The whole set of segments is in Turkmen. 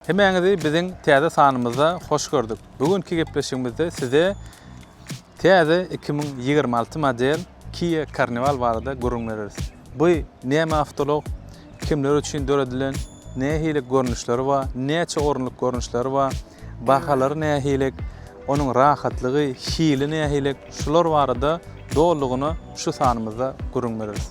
Hemäňizi biziň täze sanymyzda hoş gördük. Bu günki gepleşigimizde size täze iki müň ýigrimi alty model Kia Carnival barada gürrüň bereris. Bu näme awtoulag, kimler üçin döredilen, nähili görnüşleri bar, näçe orunlyk görnüşleri bar, bahalary nähilik, onuň rahatlygy, hili nähilik şular barada dolulygyna şu sanymyzda gürrüň bereris.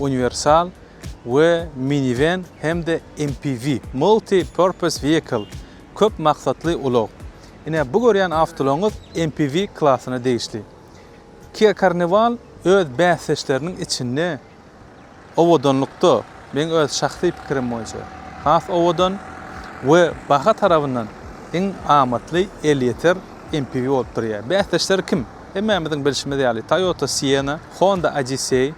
uniwersal we miniwen hem-de MPV, multi-purpose vehicle, köp maksatly ulag. Ine, bu görýän awtoulagyňyz MPV klasyna degişli. Kia Carnival öz bäsdeşleriniň içinde owadanlykda, meň öz şahsy pikirim boýunça, has owadan we baha tarabyndan iň amatly elýeter MPV bolup durýar. Bäsdeşleri kim? Hemmämiziň bilşimiz ýaly, Toyota Sienna, Honda Odyssey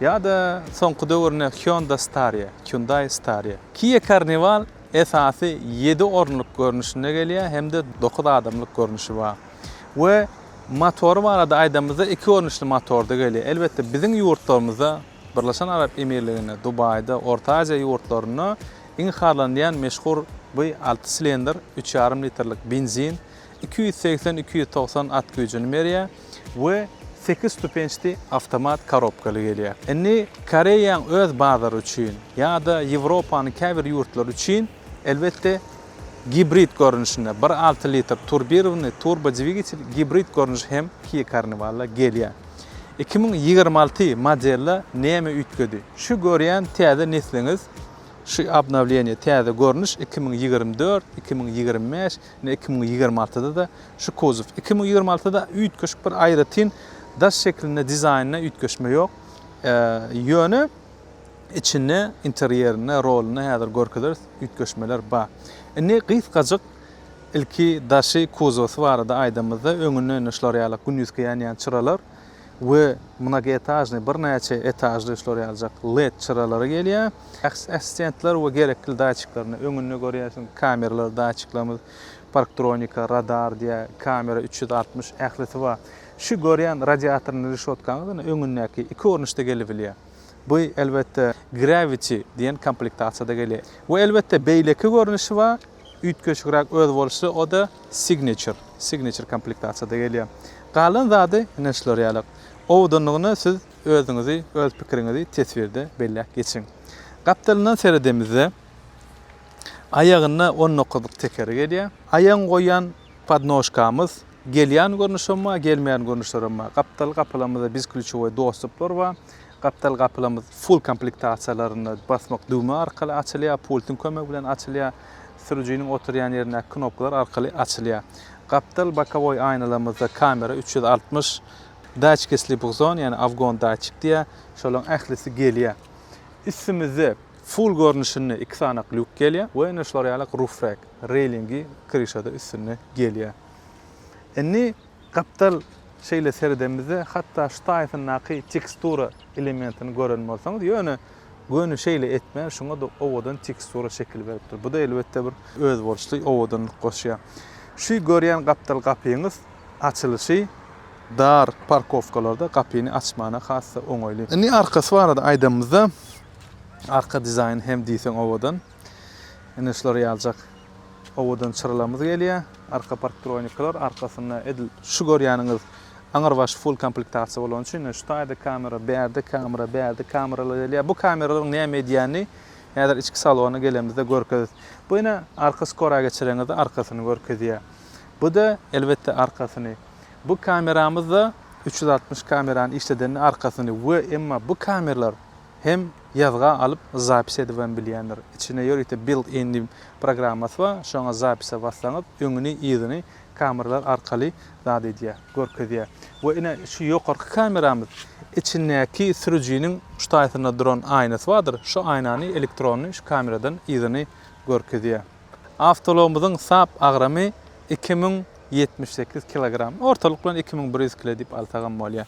ýa-da soňky döwürde Hyundai Staria, Hyundai Staria. Kia Carnival esasy ýedi orunlyk görnüşinde gelýär hem-de dokuz adamlyk görnüşi bar. We motory barada aýdanymyzda iki görnüşli motorda gelýär. Elbetde biziň ýurtlarymyzda, Birleşen Arap Emirliginde, Dubaýda, Orta Aziýa ýurtlarynda iň harlanylýan meşhur bu alty silindr, üç ýarym litrlik benzin iki ýüz segsen, iki ýüz togsan at güýjüni berýär we sekiz stupençdi awtomat korobkaly gelýär. Indi Koreýaň öz bazary üçin ýa-da Ýewropanyň käbir ýurtlary üçin elbetde gibrid görnüşinde bir alty litr turbirowanyý turbo dwigitel gibrid görnüşi hem Kia Carnival-a gelýär. Iki müň ýigrimi alty modelde näme üýtgedi? Şu görýän täze nesliňiz, şu obnowleniýe, täze görnüş iki müň ýigrimi dört, iki müň ýigrimi bäş Ine iki müň ýigrimi altyda-da şu kozow. Iki müň ýigrimi altyda üýtgeşik bir aýratyn daş şeklinde dizaýnda üýtgeşme ýok. Ýöne içinde interýerinde, rolunda häzir görkezeris, üýtgeşmeler bar. Indi gysgajyk ilki daşy, kozowsy barada aýdanymyzda öňünde ine şular ýaly gündizki ýanýan çyralar, we mnogoetažnyý, birnäçe etažly üfler ýaljak led çyralary gelýär. Şahsy assistentler we gerekli datçiklerine, öňünde görýärsiň, kameralar, datçiklerimiz, parktronika, radar diýä, kamera üç ýüz altmyş, ählisi bar. Şu görýän radiatorly reşotkaňyz ine, öňündäki, iki görnüşde gelibilýär. Bu, elbetde, Gravity diýen komplektasiýada gelýär. We, elbetde, beýleki görnüşi bar, Üýtgeşikräk özboluşly o-da Signature, Signature komplektasiýada gelýär. Galan zady ine şular ýaly. Owadanlygyna siz özüňizi, öz pikiriňizi teswirde belläp geçiň. Gapdalyndan seredemizde, aýagynda on dokuzlyk tekeri gelýär. Aýagyňy goýýan podnožkamyz gelýän görnüşem bar, gelmeýän görnüşlerem bar. Gapdal gapalamyzda bizklýuçowoý dostuplar bar. Gapdal gapylarymyz full komplektasiýalarynda basmak düwme arkaly açylýar, pultyň kömegi bilen açylýar, sürüjiniň oturýan ýerindäki knopkalar arkaly açylýar. Gapdal bokowoý aýnalarymyzda kamera üç ýüz altmyş, daçki slipok zon, ýagny awgon daçik diýýär, şolaryň ählisi gelýär. Üstümizde full görnüşinde iki sany lýuk gelýär we ine şular ýaly ruf rek, reýlingi, kryşa-da üstünde gelýär. Indi. Gapdal şeýle seredemizde hatda şu taýysyndaky tekstura elementini gören bolsaňyz, ýöne göni şeýle etmän şuňa-da owadan tekstura şekil beripdir. Bu-da elbetde bir özboluşly owadanlyk goşýar. Şu görýän gapdal gapyňyz açylyşy dar parkowkalarda gapyny açmana has-da oňaýly. Indi arkasy barada aýdanymyzda, arka dizaýny hem diýseň owadan. Ine şulary ýaljak. Owadan çyralamyz gelýär. Arka parktroniklar, arkasynda edil şu görýäniňiz aňrybaş full komplektasiýa bolany üçin, şu taýda kamera, bärde kamera, bärde kameralar gelýär. Bu kameralaryň näme edýänini häzir içki salona gelenimizde görkezis. Bu ine arka skora geçireňizde arkasyny görkezýär. Bu-da elbetde arkasyny. Bu kameramyz-da üç ýüz altmyş kamerany işledende arkasyny we emma bu kameralar hem ýazga alyp zapis edibem bilýändir. Içinde ýörite built in diýip programmasy bar, şoňa zapise bassaňyz öňüni yzyny kameralar arkaly zat edýär, görkezýär. We ine şu ýokarky kameramyz içindäki sürüjiniň şu taýsynda duran aýnasy bardyr, şu aýnany elektrony şu kameradan yzyny görkezýär. Awtoulagymyzyň sap agramy iki müň ýetmiş sekiz kilogram, ortalyk bilen iki müň bir ýüz kile diýip alsagam bolýar.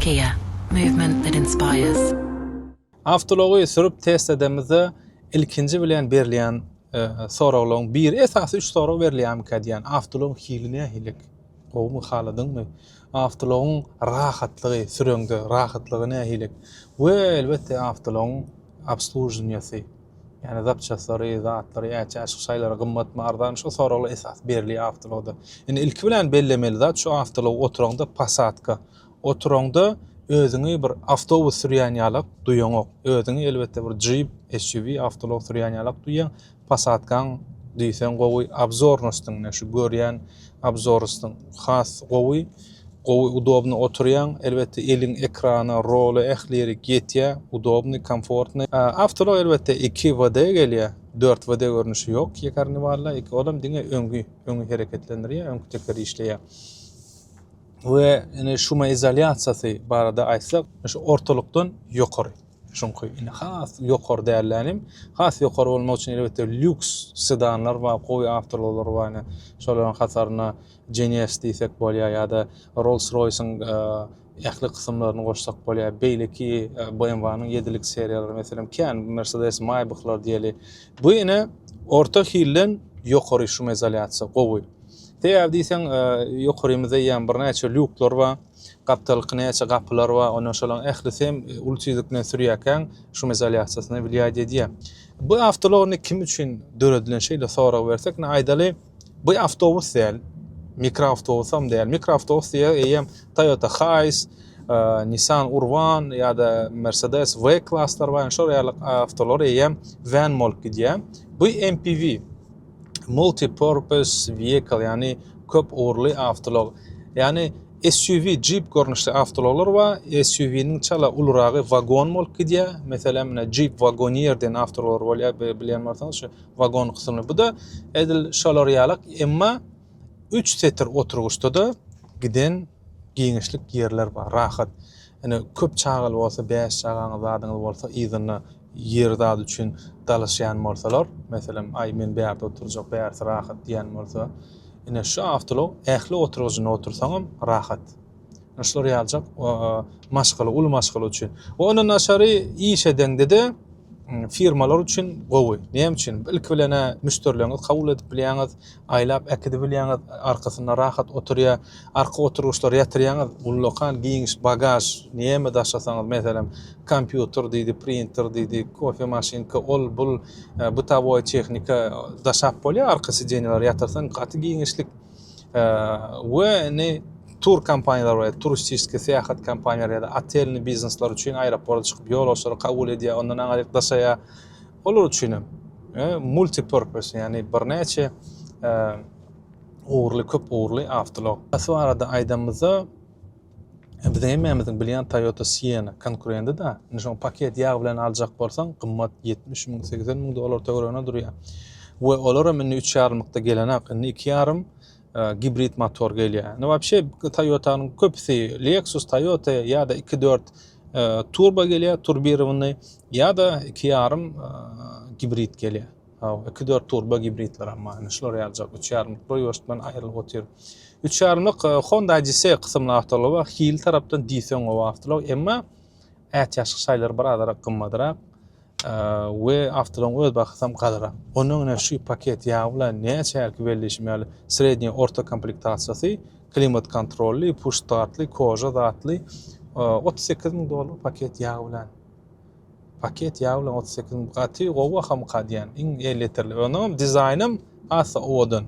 Kia, movement that inspires. Awtoulagy sürüp test edemizde ilkinji bilen berilýän soraglaryň biri, esasy üç sorag berilýärmikä diýýän. Awtoulagyň hili nähililik? Gowumy, haladyňmy? Awtoulagyň rahatlygy, süreňde rahatlygy nähililik? We elbetde awtoulagyň. obsluženiýasy, ýagny zapçaslary, zatlary, äçe aşyk şaýlary gymmatmy, arzanmy şu soraglar esas berliýär awtologda. Indi ilki bilen bellemeli zat şu awtolog oturaňda pasadka, oturaňda özüňi bir awtobus sürýän ýalak duýaňok. Özüňi elbetde bir jip, SUV, awtolog sürýän ýalak duýýaň. Posadkaň diýseň gowy obzornostyň ne şu görýän obzorostyň has gowy gowy udobny oturýaň elbetde eliň ekrana rola ähli ýerik ýetýä udobny komfortny awtoulag elbetde iki WD gelýä dört WD görnüşi ýok ekarniwalda iki olam diňe öňki öňi hereketlendirýä öňki teker işleýä we ine şumaizolýasiýasy barada aýtsak şu ortalykdan ýokary. Çünki indi has ýokary dälläni hem, has ýokary bolmak üçin elbetde lýuks sedanlar bar, gowy awtoulaglar bar ine. Şolaryň hatarynda Geneos diýsek bolýar ýa-da Rolls-Royce-iň ähli kysymlaryny goşsak bolýar. Beýleki BMW-niň ýedilik seriýalary, meselem, kän Mercedes, Maybach-lar diýeli. Bu ine orta hilden ýokary şumizolýasiýa gowy. Sebäbi diýseň, ýokarymyzda eýýäm birnäçe lýuklar bar. Gapdalyk näçe gapylar bar, ondan şolaryň ählisi hem uly tizlik bilen sürýärkäň şum izolýasiýasyna wiliýat edýär. Bu awtoulag indi kim üçin döredilen şeýle sorag bersek, indi aýdaly, bu awtobus däl, mikroawtobusam däl. Mikroawtobus diýer eýýäm Toyota Hiace, Nissan Urban ýa-da Mercedes V-klaslar bar, indi şol ýaly awtoulag eýýäm wen bolup gidýär. Bu MPV. multi-purpose vehicle, ýagny köp ugurly awtoulag, ýagny SUV, Jeep görnüşli awtoulaglar bar. SUV-niň çala uluryragy wagon bolup gidýär. Meselem, menä Jeep Wagoneer diýen awtoulaglar bolýar, bilýän bolsaňyz, şu wagon kysymly. Bu-da edil şolar ýalak, emma üç setir oturgyçda-da giden giňişlik ýerler bar, rahat. Ine, köp çagaly bolsa, bäş çagaňyz, zadyňyz bolsa, yzynda Ýer zat üçin dalaşýan bolsalar, meselem, Aý, men bärde oturjak, bärsi rahat diýýän bolsa, ine, şu awtoulag ähli oturgyjynda otursaňam rahat. Ine, şular ýaljak maşgala, uly maşgala üçin. We ondan daşary iş edeňde-de firmalar üçin gowy. Näme üçin? Ilki bilen-ä müşderileriňizi kabul edip bilýäňiz, Aýlap äkidibilýäňiz, arkasynda rahat oturýa. Arka oturgyçlary ýatyrýaňyz, ullakan, giňiş bagaž, näme daşasaňyz, meselem, kompýuter diýdi, printer diýdi, kofe maşynka, ol, bul, bytowoý tehnika daşap bolýar arka sideniýelere ýatyrsaň, gaty giňişlik. We indi tur kompaniýalar bar, turistiski syýahat kompaniýalary ýa-da otelni biznesler üçin aeroporta çykyp, ýolagçylary kabul edýär, ondan aňryk daşaýar. Olar üçin hem multipurpose, ýagny birnäçe ugurly, köp ugurly awtoulag. Şu barada aýdanymyzda, biziň hemmämiziň bilýän Toyota Sienna konkurenti-da. Indi şoňa paket ýag bilen aljak bolsaň, gymmat, ýetmiş müň, segsen müň dollar töweregine durýar. We olar hem indi üç ýarymlykda gelenok. Indi iki ýarym gibrid motor gelýär. Ne wapşe Toyota-nyň köpüsi Lexus, Toyota ýa-da 2-4 turbo gelýär, turbirowany ýa-da 2,5 gibrid gelýär. Haw, 2-4 turbo gibridler hem bar. Şular ýaljak 3,5-lyklar ýörştmen aýrylyp otyr. 3,5-lyk Honda Odyssey kysymly awtoulag bar. Hil tarapdan diýseň gowy awtoulag, emma Ätiýaçlyk şaýlary bir azarak gymmadrak we awtolaryň öz bahasam galyrak. Ondan ine şu paket ýagy bilen näçe hälki weli diýşim ýaly sredniýe orta komplektasiýasy klimat kontrolly, push startly, koža zatly otuz sekiz müň dollar paket ýagy bilen. Paket ýagy bilen otuz sekiz müň gaty gowy bahamyka diýen iň elli litrli. Onam dizaýnam asa owadan.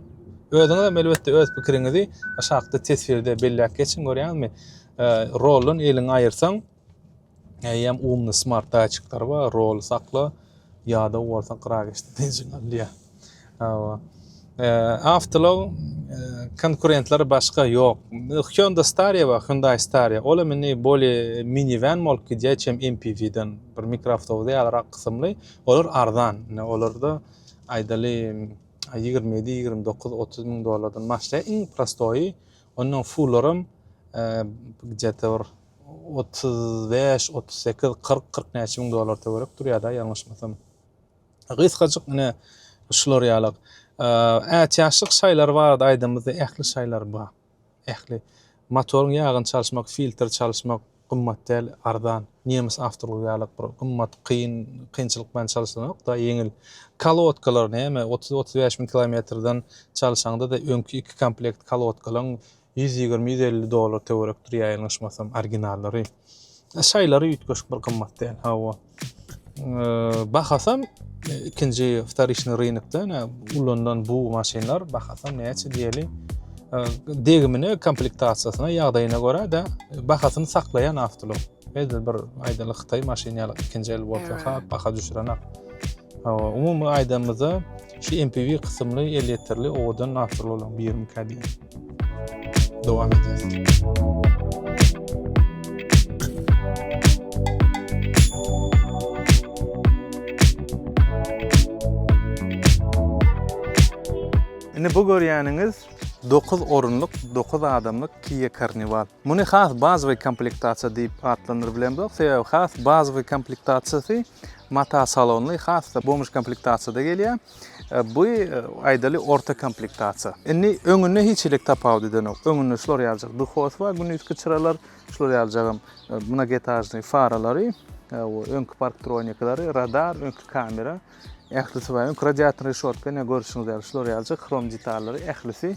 Özüňizem elbetde öz pikiriňizi aşakda teswirde belläp geçiň görýäňizmi? Roldan eliňi aýyrsaň, eýýäm umny smart datçikleri bar, roly sakla, ýadaw bolsa gyra geçdi diýjek alýar. Hawa. Awtolog konkurentleri başga ýok. Hyundai Staria bar, Hyundai Staria. Ol hem indi boli minivan bolup gidýär, hiç hem MPV-den bir mikroawtobus ýalyrak kysymly. Olar arzan. Olarda aýdaly 27, 29, 30 müň dollardan başlaýar. Iň prostoýy Ondan suwlaram gdje-te bir otuz bäş, otuz sekiz, kyrk, kyrk näçe müň dollar töwerek durýar-da, ýalňyşmasam. Gysgajyk ine, şular ýalak. Ätiýaçlyk şaýlary barada aýdanymyzda, ähli şaýlar bar. Ähli. Motoryň ýagyny çalyşmak, filtr çalyşmak, Gymmat däl, arzan. Nemes awtorlygy ýalyk bir gymmat, kyn, kynçylyk bilen çalyşylanok-da, ýeňil. Kolodkalar näme, otuz, otuz bäş müň kilometrden çalyşaňda-da öňki iki komplekt kolodkalaň ýüz ýigrimi, ýüz elli dollar töwerekdir ýa ýalňyşmasam, originallary. Şaýlary üýtgeşik bir gymmat däl. Hawa. Bahasam ikinji wtorişny rynokda ulanylan bu maşynlar bahasam näçe diýeli degimine komplektasiýasyna ýagdaýyna görä de bahasyny saklaýan awtoulag. Edil bir aýdaly Hytaý maşyny ýaly ikinji el bolsa ha baha düşürenok. Hawa, umumy aýdanymyzda şu MPV kysymly elýeterli owadan awtoulag birmi kädiýär. Dowam edýäs. Indi bu görýäniňiz 9 orunlyk, 9 adamlyk Kia Carnival. Muny has bazowy komplektasiýa diýip atlandyryp bilemzok, sebäbi has bazowy komplektasiýasy mata salonly has-da bomuş komplektasiýada gelýär. Bu aýdaly orta komplektasiýa. Indi öňünde hiç hili tapawut edenok. Öňünde şular ýaljak duhos bar, gündizki çyralar, şular ýaljagam mnogetažnyý faralary, öňki parktronikalary, radar, öňki kamera, ählisi bar. Öňki radiator reşotka ine görşüňiz ýaly şular ýaljak hrom detallary ählisi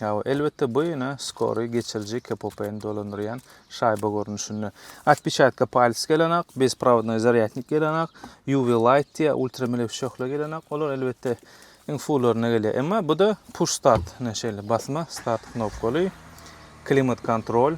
Hawa, elbetde, bu ýene skoryý geçiriji KPP-ni dolandyrýan şaýba görnüşinde. Otpeçatka palca gelenok, bezprawodnoý zarýadnik gelenok, UV light diýýär, ultramelewşe şöhle gelenok. Olar elbetde iň fullaryna gelýär. Emma bu-da push start, ine şeýle basma start knopkaly, klimat kontrol.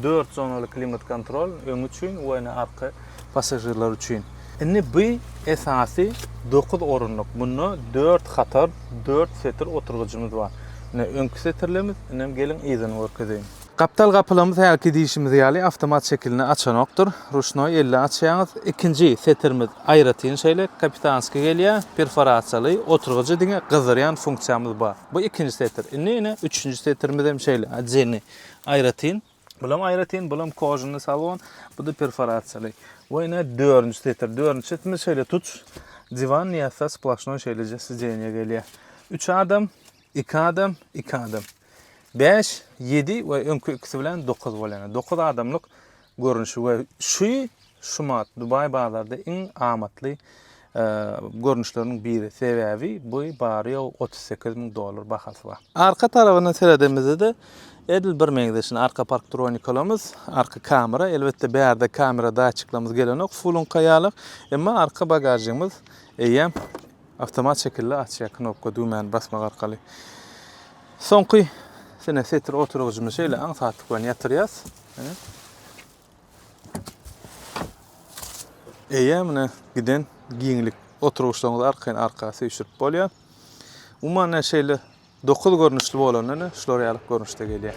Dört zonaly klimat kontrol öňi üçin we ene arka passažirler üçin. Indi bu esasy dokuz orunlyk. Bunda dört hatar, dört setir oturgyjymyz bar. Ine öňki setirlerimiz, inem geliň yzyny görkezeýin. Gapdal gapylarymyz hälki diýşimiz ýaly awtomat şekilinde açanokdyr. Ruşnoý elle açýaňyz. Ikinji setirimiz aýratyn şeýle kapitanskiý gelýär. Perforasiýaly oturgyjy diňe gyzdyrýan funksiýamyz bar. Bu ikinji setir. Indi ene üçünji setirimiz hem şeýle, otdelniý. Aýratyn. Bulam aýratyn, bulam kožunny salon, buda perforasiýaly. We ine dördünji setir. Dördünji setirde şeýle tuç, diwan niýassa splaşnoý şeýleje sidzeniýa gelýär. Üç adam, iki adam, iki adam. Bäş, ýedi we öňki ikisi bilen dokuz bolýan. Dokuz adamlyk görnüşi we şu şumat Dubaý bazarda iň amatly görnüşleriniň biri, sebäbi bu bary-ýogy otuz sekiz müň dollar bahasy bar. Arka tarabyndan seredemizde-de edil bir meňzeşini, arka parktronikalymyz, arka kamera, elbetde bärde kamera datçiklerimiz gelenok, fuluňka ýalyk, emma arka bagažygymyz eýýäm awtomat şekilde açýar knopka düwmäni basmak arkaly. Soňky sene setir oturgyjymyz şeýle aňsatlyk bilen ýatyrýas. Eýemine giden giňlik oturgyçlaryňyzy arkaýyn-arka süýşürip bolýar. Umuman ne şeýle 9 görnüşli bolanda ne şular ýaly görnüşde gelýär.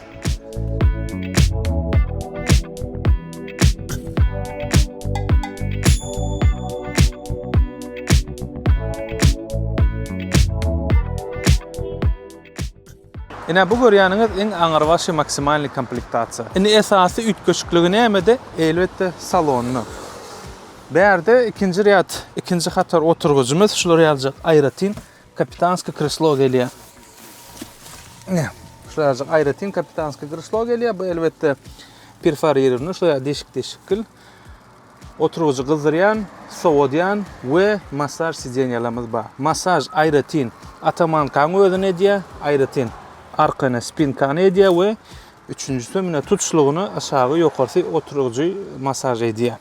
Ine bu görýäniňiz iň aňyrbaşy maksimalnyý komplektasiýa. Indi esasy üýtgeşikligi nämede? Elbetde salonda. Bärde ikinji rýad, ikinji hatar oturgyjymyz şular ýaljak aýratyn kapitanskiý kreslo gelýär. Ine şular ýaljak aýratyn kapitanskiý kreslo gelýär. Bu elbetde perforirowny şular ýaly deşik-deşikgil. Oturgyjy gyzdyrýan, sowadýan we massaž sidenýalarymyz bar. Massaž aýratyn atamankany özüne edýär, aýratyn arkany, spinkany edýär we üçünjisi munde tutuşlygyny aşagy ýokarsy oturgyjy massaž edýär.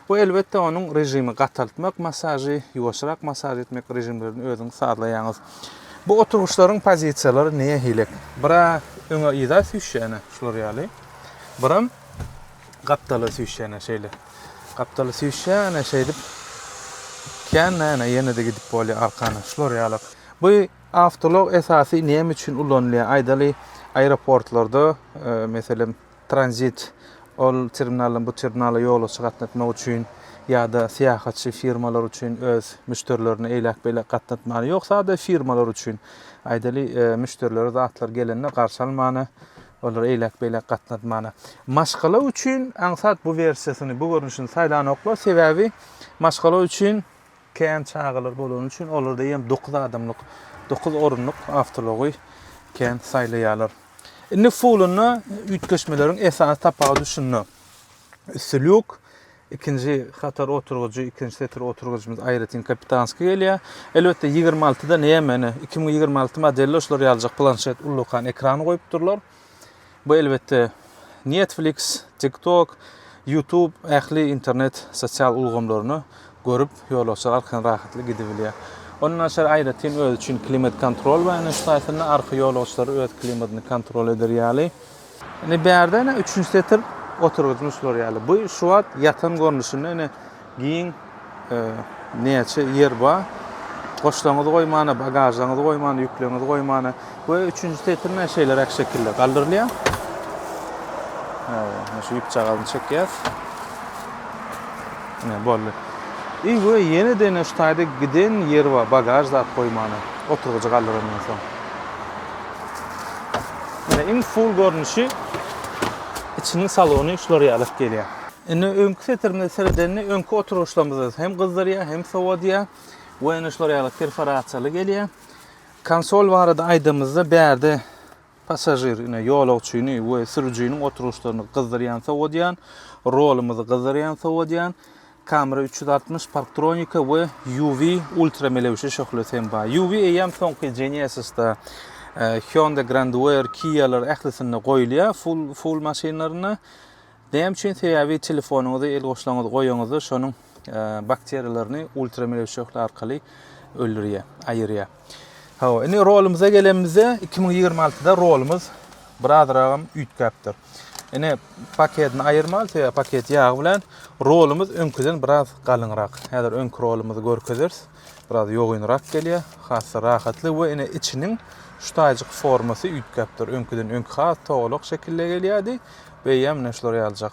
Bu elbetde onuň režimi gataltmak massažy, ýuwaşrak massaž etmek režimlerini özüňiz sazlaýaňyz. Bu oturgyçlaryň pozisiýalary nähili? Bira öňe yza süýşýäne şular ýaly. Biram. Gapdala süýşýän ene şeýle. Gapdala süýşýän ene şeýdip. Kän-de ene ýene-de gidip bolýar arkana. Şular ýalak. Bu awtolog esasy näme üçin ulanylýar? Aýdaly, aeroportlarda, meselem, tranzit ol terminaldan bu terminala ýolagçy gatnatmak üçin ýa-da syýahatçy firmalar üçin öz müşderilerine eýläk-beýläk gatnatmana, ýok, sada firmalar üçin. Aýdaly, müşderilere zatlar gelende garşy almana. Olar eýläk-beýläk gatnady mana. Maşgala üçin aňsat bu wersiýasyny, bu görnüşini saýlanoklar, sebäbi maşgala üçin kän çagalar bolany üçin olarda eýýäm dokuz adamlyk, dokuz orunlyk awtoulogy kän saýlaýarlar. Indi fulynda üýtgeşmeleriň esasy sapagy düşünde. Üsti lýuk, Ikinji hatar oturgyjy, ikinji setir oturgyjymyz aýratyn kapitanskiý gelýär. Elbetde, ýigrimi altyda näme, ine, iki müň ýigrimi alty modelde şular ýalyjak planşet ullakan ekran goýupdyrlar. Bu, elbetde, Netflix, TikTok, YouTube, ähli internet sosial ulgamlaryny görüp, ýolagçylar arkadan rahatly gidibilýär. Ondan daşary aýratyn özi üçin klimat-kontrol bar, ine, şu taýdan-da arka ýolagçylar öz klimadyny kontrol eder ýaly. Indi bärde ene üçünji setir oturgyjyň şu bir ýaly. Bu şu wagt ýatan görnüşinde ene giň e, näçe ýer bar. Goşlaryňyzy goýmana, bagažlaryňyzy goýmana, ýükleriňizi goýmana we üçünji setirine şeýleräk şekilde galdyrylýar. Hawa, şu ýüpjagazyny çekýär. Ne boldy. I we ýene dene şu taýda giden ýer bar, bagaž zat goýmana, oturgyjy galdyrandan soň. Mine iň full görnüşi içiniň salony şular ýalyk gelýär. Indi öňki setirimize seredende öňki oturyşlarymyz hem gyzdyrýar, hem sowadýar we ene şular ýalyk perforasiýaly gelýär. Konsol barada aýdamyzda bärde passažir, ine ýolagçyny we sürüjiniň oturyşlaryny gyzdyrýan, sowadýan, rolymyzy gyzdyrýan, sowadýan, Kamera üç ýüz altmyş, parktronika we UV, ultra melewşe, şöhlesi hem bar. UV eýýäm soňky Genesisda, Hyundai Grand Wear, Kia-lar ählisinde goýulýar, full full maşynlarynda. Näme üçin? Sebäbi telefonyňyzy, el goşlaryňyzy goýaňyzda şonuň bakteriýalaryny ultra melewşe şöhle arkaly öldürýär, aýyrýar. Hawa, indi rolumyza gelenimizde, iki müň ýigrimi altyda rolumyz birazragam üýtgäpdir. Ine, paketini aýyrmaly, sebäbi paket ýagy bilen rolumyz öňküden biraz galyňrak. Häzir öňki rolumyzy görkezeris. Biraz ýogynrak gelýär, has-da rahatly we ine içiniň şu taýjyk formasy üýtgäpdir. Öňküden öňki has togalak şekilde gelýärdi, beýýäm ine şular ýaljak.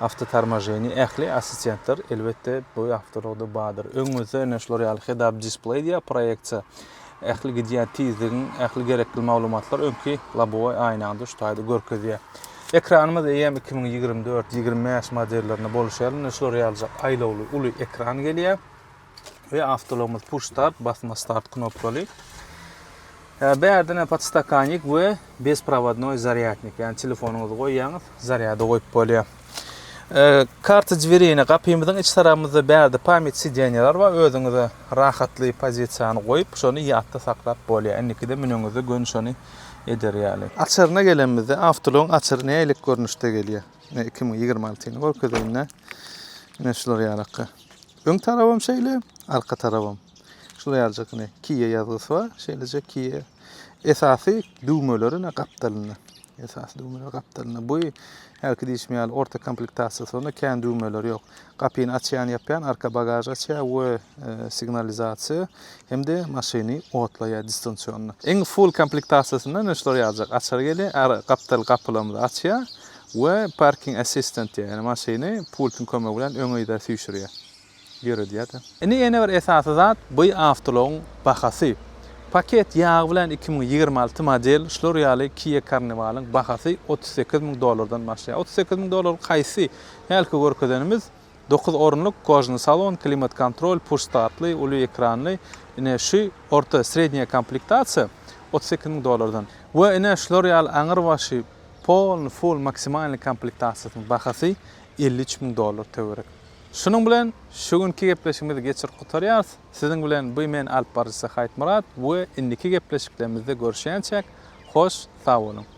Awtotormoženi, ähli assistentler, elbetde, bu awtoulag-da bardyr. Öňüňizde ine şular ýaly head-up display diýýär, proýeksiýa. Ähli gidýän tizligiň, ähli gerekli maglumatlar öňki lobowaý aýnaňda şu taýda görkezýär. Ekranymyz eýýäm iki müň ýigrimi dört, ýigrimi bäş modellerinde bolşy ýaly, ine şular ýalyjak aýlawly uly ekran gelýär. we awtologymyz push start basma start knopkaly. Ee, bärden podstakanik we bezprovodnoý zarýadnik, ýagny telefonyňyzy goýýaňyz, zarýada goýup bolýar. Ee, karta dwerine gapymyzyň iç tarapymyzda bärde pamýet sidýeniýalar bar, özüňize rahatly pozisiýany goýup, şony ýatda saklap bolýar. Indikide müneňizde gön şony eder ýaly. Açaryna gelenimizde, awtologyň açary nälik görnüşde gelýär? Ine, 2026-ny görkezeýin-dä. Ine, şular ýalaka. Öň tarabam şeýle, arka tarabam. Şular ýaljak ine Kia ýazgysy bar. Şeýlejek Kia esasy düwmeleri ine gapdalynda. Esasy düwmeler gapdalynda. Bu hälki diýişim ýaly orta komplektasiýasy bar. Onda kän düwmeler ýok. Gapyny açýan, ýapýan, arka bagaž açýar we e, signalizasiýa hem-de maşyny otlaýar distansionny. Iň full komplektasiýasynda ine şular ýaljak açar gelýär. Gapdal gapylarymyzy açýar. we Parking Assistant diýýär, ýagny maşyny pultyň kömegi bilen öňe-yza süýşürýär, ýöredýär-de. Indi ýene bir esasy zat, by awtoulagyň bahasy. Paket ýagy bilen iki müň ýigrimi alty model şular ýaly Kia Carnival-yň bahasy otuz sekiz müň dollardan başlaýar. Otuz sekiz müň dollar haýsy? Hälki görkezenimiz. Dokuz orunlyk kojny salon, klimat-kontrol, push-startly, uly ekranly, ine, şu orta, srednýa komplektasiýa otuz sekiz müň dollardan. We ine, şular ýaly aňyrbaşy, polny, full, maksimalny komplektasiýasynyň bahasy elli üç müň dollar töwerek. Şunuň bilen şu günki gepleşigimizi geçirip gutarýarys. Siziň bilen by men alyp baryjysy Haýytmyrat we indiki gepleşiklerimizde görüşýänçäk, hoş, sag boluň!